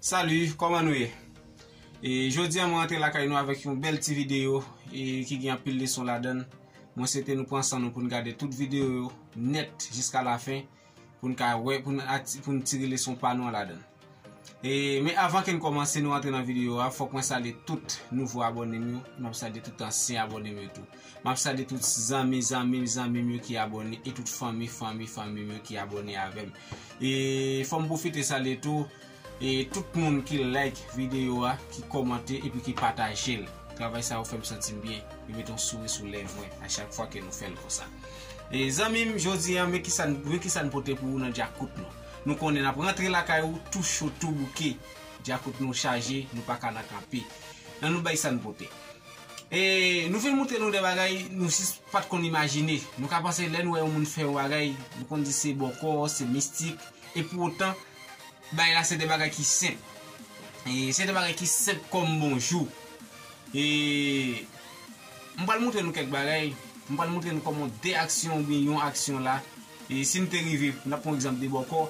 Salut, kòman nou ye? E jodi an mwen antre lakay nou avèk yon bèl ti videyo e ki gen anpil leson ladan l. Mwen swete nou pran san nou pou n gade tout videyo yo nèt jiska lafen pou n ka wè, pou n ati, pou n tire leson pa nou an ladan l. E men avan ke n kòmanse nou antre nan videyo a, fòk mwen salye tout nouvo abòne m yo, m ap salye tout ansyen abòne m yo tou. Map salye tout zanmi zanmim zanmim yo ki abone e tout fanmi fanmi fanmim yo ki abone avem e fom profite salye tou e tout moun ki like video a ki komante epi ki patajel travay sa yo fem santim byen li met yon souri sou lèv mwen a chak fwa ke nou fel konsa e zanmim jodi an men kisa men kisa nou pote pou ou nan djakout nou nou konnen nap rantre lakay ou tou cho tou bouke djakout nou chaje nou paka nan kanpe nan nou bay sa nou pote E nou vin moutre nou de bagay nou jis pat konn imajine. Nou ka panse lè nou wè yon moun fè yon bagay, nou konn di se bòkò, se mistik, e pou otan, bagay la se de bagay ki senp. E se de bagay ki senp kòm bonjou. E m pral moutre nou kèk bagay, m pral moutre nou kòman de aksyon oubyen yon aksyon la E si n te rive, n ap pran yon egzanp de bòkò,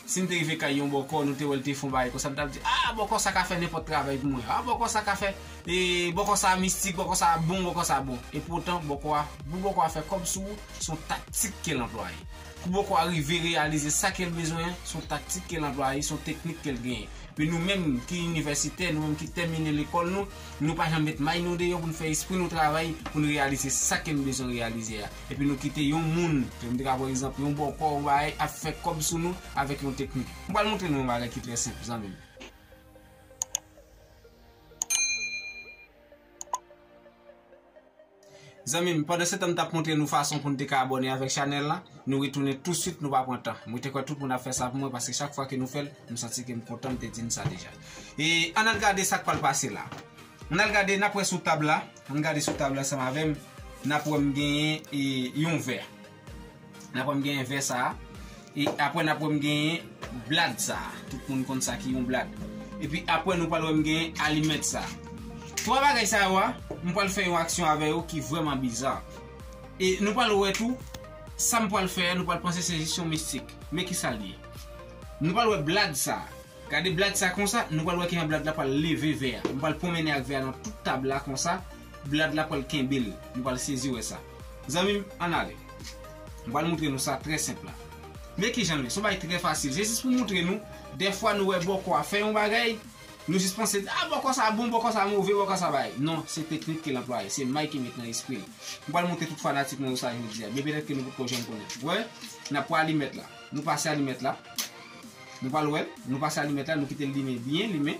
si n te rive kay yon bòkò, nou te wè l te fè yon bagay konsa, n t ap di, A, bòkò sa ka fè nenpòt travay pou mwen. A, bòkò sa ka fè. E, bòkò sa a mistik, bòkò sa a bon, bòkò sa a bon. Epoutan, bòkò a, pou bòkò a fè kòb sou ou, se yon taktik ke l anplwaye. Pou bòkò a rive reyalize sa ke l bezwen an, se yon taktik ke l anplwaye, se yon teknik ke l genyen. Men nou menm ki inivèsitè, nou menm ki tèmine lekòl nou, nou pa janm met may nou deyò pou n fè espri nou travay pou n reyalize sa ke n bezwen reyalize a. Epi nou kite yon moun, m te ka pran egzanp yon bòkò, yon bagay, ap fè kòb sou nou avèk yon teknik. M pral montre nou yon bagay ki trè senp, zanmi m. Zanmi m, pandansetan m t ap montre nou fason pou nou te ka abòne avèk chanèl la, nou retounen tousuit, nou pa pran tan. Mwen te kwè tout moun ap fè sa pou mwen paske chak fwa ke nou fè l, m santi ke m kontan m te di nou sa deja. E, ann al gade sa k pral pase la. Ann al gade, n ap wè sou tab la. Ann gade sou tab la ansanm avè m. N ap wè m genyen yon vè. N ap wè m genyen vè sa a. E apre n ap wè m genyen blad sa a. Tout moun konn sa ki yon blad. E pi apre nou pral wè m genyen alimèt sa a. Twa bagay sa yo a, m pral fè yon aksyon avè yo ki vrèman biza. E nou pral wè tou, sa m pral fè a nou pral panse se jis yon mistik. Men ki sa l ye. Nou pral wè blad sa a. Gade blag sa konsa, nou pral wè kijan blag la pral leve vè a. Nou pral pwonmennen ak vè a nan tout tab la konsa, blag la pral kenbe l. Nou pral sezi wè sa. Zanmi m, ann ale. M pral moutre nou sa trè senp la. Men kijan l ye. Se yon bagay trè fasil. Se jis pou m moutre nou, dèfwa nou wè bòkò a fè yon bagay, nou jis panse, a bòkò sa bon, bòkò sa move, bòkò sa bagay. Non, se teknik ke l anplwaye. Se may ki met nan espri l. M pral moutre tout fanatik mwen yo sa jodi a. Byen petèt ke nou potko janm konnen. Wè, n ap pran alimèt la. Nou pase alimèt la. Nou pral wèl, nou pase alimèt la, nou kitel limen byen limen,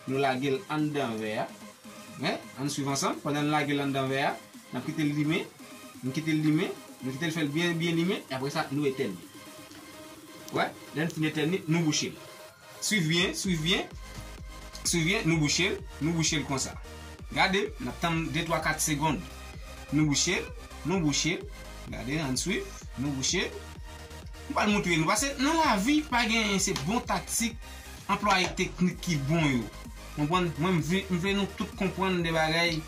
nou lagel anndan vè a, hein, ann swiv ansanm, pandan n lagel anndan vè a, nap kitel limen, nou kitel limen, nou kitel fèl byen byen limen, e aprè sa nou etèn li. Wè, lè n fin etèn li, nou bouchel. Swiv byen, swiv byen, swiv byen, nou bouchel, nou bouchel konsa. Gade, nap tann de twa kat segond. Nou bouchel, nou bouchel, gade ann swiv, nou bouchel. M pral moutre nou pase nan lavi pa genyen se bon taktik anplwaye teknik ki bon yo konprann mwen m vle nou tout konprann de bagay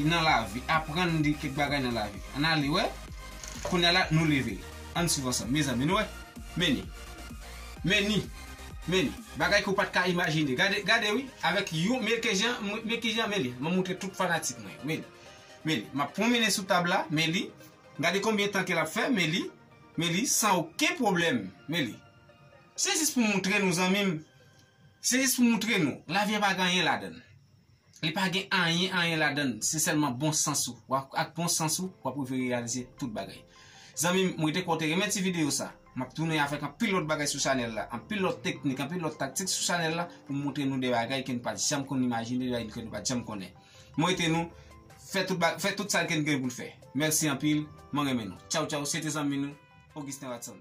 nan lavi aprann de kèk bagay nan lavi ann ale wè kounya la nou leve ann swiv ansanm mezanmi nou wè meni meni meni bagay ke w pat ka imajine gade gade wi avèk yon men kijan men kijan meni m ap moutre tout fanatik mwen yo meni meni m ap pwonmennen sou tab la meni Gade konbyen tan ke lap fè men li men li san oken pwoblèm men li se jis pou moutre nou zanmim se jis pou moutre nou lavi a pa gen anyen ladann li pa gen anyen anyen ladann se sèlman bon sans ou ak bon sans ou wap rive reyalize tout bagay zanmim m rete kwè w te renmen ti videyo sa. Map tounen avèk anpil lòt bagay sou chanèl la, anpil lòt teknik, anpil lòt taktik sou chanèl la pou m moutre nou de bagay ke n pat janm konn imajine, de bagay ke nou pat janm konnen. Mwete nou fè tout bagay, fè tout sa ke n gen pou n fè. Mèsi anpil, mwen renmen nou. Tchaw tchaw, se te zanmi nou, Augustin Watson.